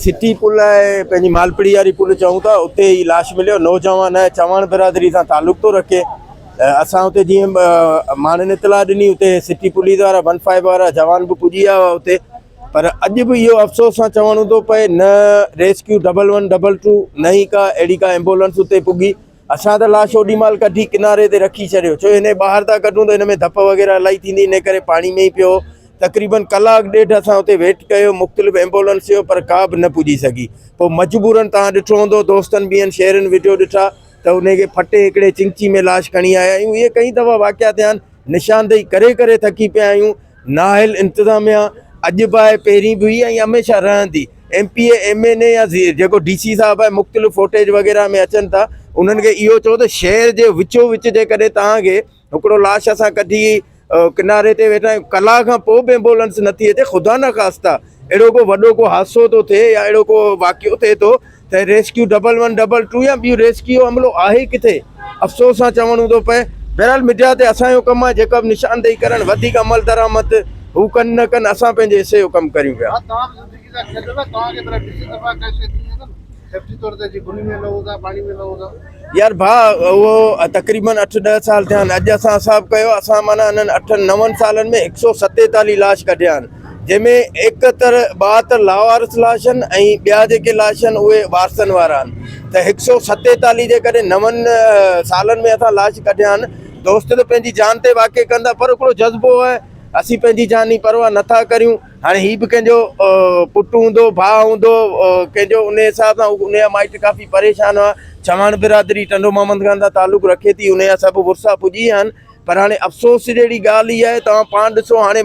City پل ۽ پنهنجي مالپڙي واري پل چئون ٿا اتي هي لاش مليو نوجوان آهي چواڻ برادري سان تعلق ٿو رکي اسان اتي جيئن ماڻهن اطلاع ڏني اتي سٽي پوليس وارا ون فائيو وارا جوان به پڄي ويا هئا اتي پر اڄ به اهو افسوس سان چوڻو ٿو پئي نه rescue double one double two نه ئي ڪا اهڙي ڪا ايمبولنس اتي پڳي اسان ته لاش اوڏي مهل ڪڍي ڪناري تي رکي ڇڏيو ڇو هن کي ٻاهر ٿا ڪڍون ته هن ۾ ڌپ وغيره الائي ٿيندي ان ڪري پاڻي ۾ ئي پيو تقريبن ڪلاڪ ڏيڍ اسان اتي ويٽ ڪيو مختلف ايمبولنس جو پر ڪا به نه پڄي سگهي پوء مجبورن تان ڏٺو هوندو دوستن ٻين شهرين وڊيو ڏٺا ته ان کي ڦٽي هڪڙي چنگچي ۾ لاش کڻي آيا آهيون اهي ڪئين دفعا واقعا ٿيا آهن نشاندهي ڪري ڪري ٿڪي پيا آهيون نااهل انتظاميا اڄ به آهي پهرين به هئي ۽ هميشه رهندي M P A M N A يا جيڪو ڊي سي صاحب آهي مختلف فوٽيج وغيره ۾ اچن ٿا انهن کي اهو چئو ته شهر جي وچو وچ جيڪڏهن توهان کي هڪڙو لاش اسان ڪڍي ڪناري تي ويٺا آهيون ڪلاء کان پوء به ايمبولنس نٿي اچي خدا نه خاستا اهڙو ڪو وڏو ڪو حادثو ٿو ٿئي يا اهڙو ڪو واقعو ٿئي ٿو ته rescue double one double two يا ٻيون ريسڪيو عملو آهي ڪٿي؟ افسوس سان چوڻو ٿو پئي. بهرحال ميڊيا تي اسان جو ڪم آهي جيڪا به نشاندهي ڪرڻ وڌيڪ عملدرآمد هو ڪن نه ڪن اسان پنهنجي حصي جو ڪم ڪريون پيا. يار ڀاء اهو تقريبن اٺ ڏهه سال ٿيا آهن اڄ اسان حساب ڪيو اسان معنيٰ انهن اٺن نون سالن ۾ هڪ سؤ ستيتاليهه لاش ڪڍيا آهن جنهن ۾ ايڪهتر ٻاهتر لاوارث لاش آهن ۽ ٻيا جيڪي لاش آهن اهي وارثن وارا آهن ته هڪ سؤ ستيتاليهه جيڪڏهن نون سالن ۾ اسان لاش ڪڍيا آهن دوست ته پنهنجي جان تي واقع ڪندا پر هڪڙو جذبو آهي اسين پنهنجي جان جي پرواهه نٿا ڪريون هاڻي هي به ڪنهن جو پٽ هوندو، ڀاء هوندو، ڪنهن جو انهيء حساب سان ان جا مائٽ ڪافي پريشان هئا. چواڻ برادري ٽنڊو محمد خان سان تعلق رکي ٿي، ان جا سڀ ورثا پڄي ويا آهن. پر هاڻي افسوس جهڙي ڳالهه هي آهي، توهان پاڻ ڏسو هاڻي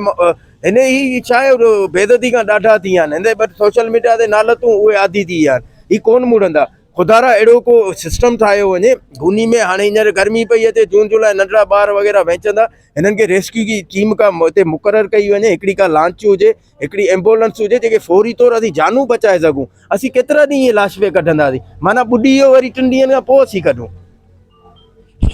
هن هي ڇا آهي بيعزتي کان ڏاڍا ٿي ويا آهن. هندي بٽ سوشل ميڊيا تي نالتون اهي عادي ٿي ويا آهن. هي ڪونه مڙندا. خدا را اهڙو ڪو سسٽم ٺاهيو وڃي. گوني ۾ هاڻي هينئر گرمي پئي اچي، جون جولاء ننڍڙا ٻار وغيره وهنچندا. هنن کي ريسڪيو جي ٽيم ڪا هتي مقرر ڪئي وڃي هڪڙي ڪا لانچ هجي هڪڙي ايمبولنس هجي جيڪي فوري طور اسين جانون بچائي سگهون اسين ڪيترا ڏينهن لاش پي ڪڍنداسين معنيٰ ٻڏي ويو وري ٽن ڏينهن کان پوء اسين ڪڍون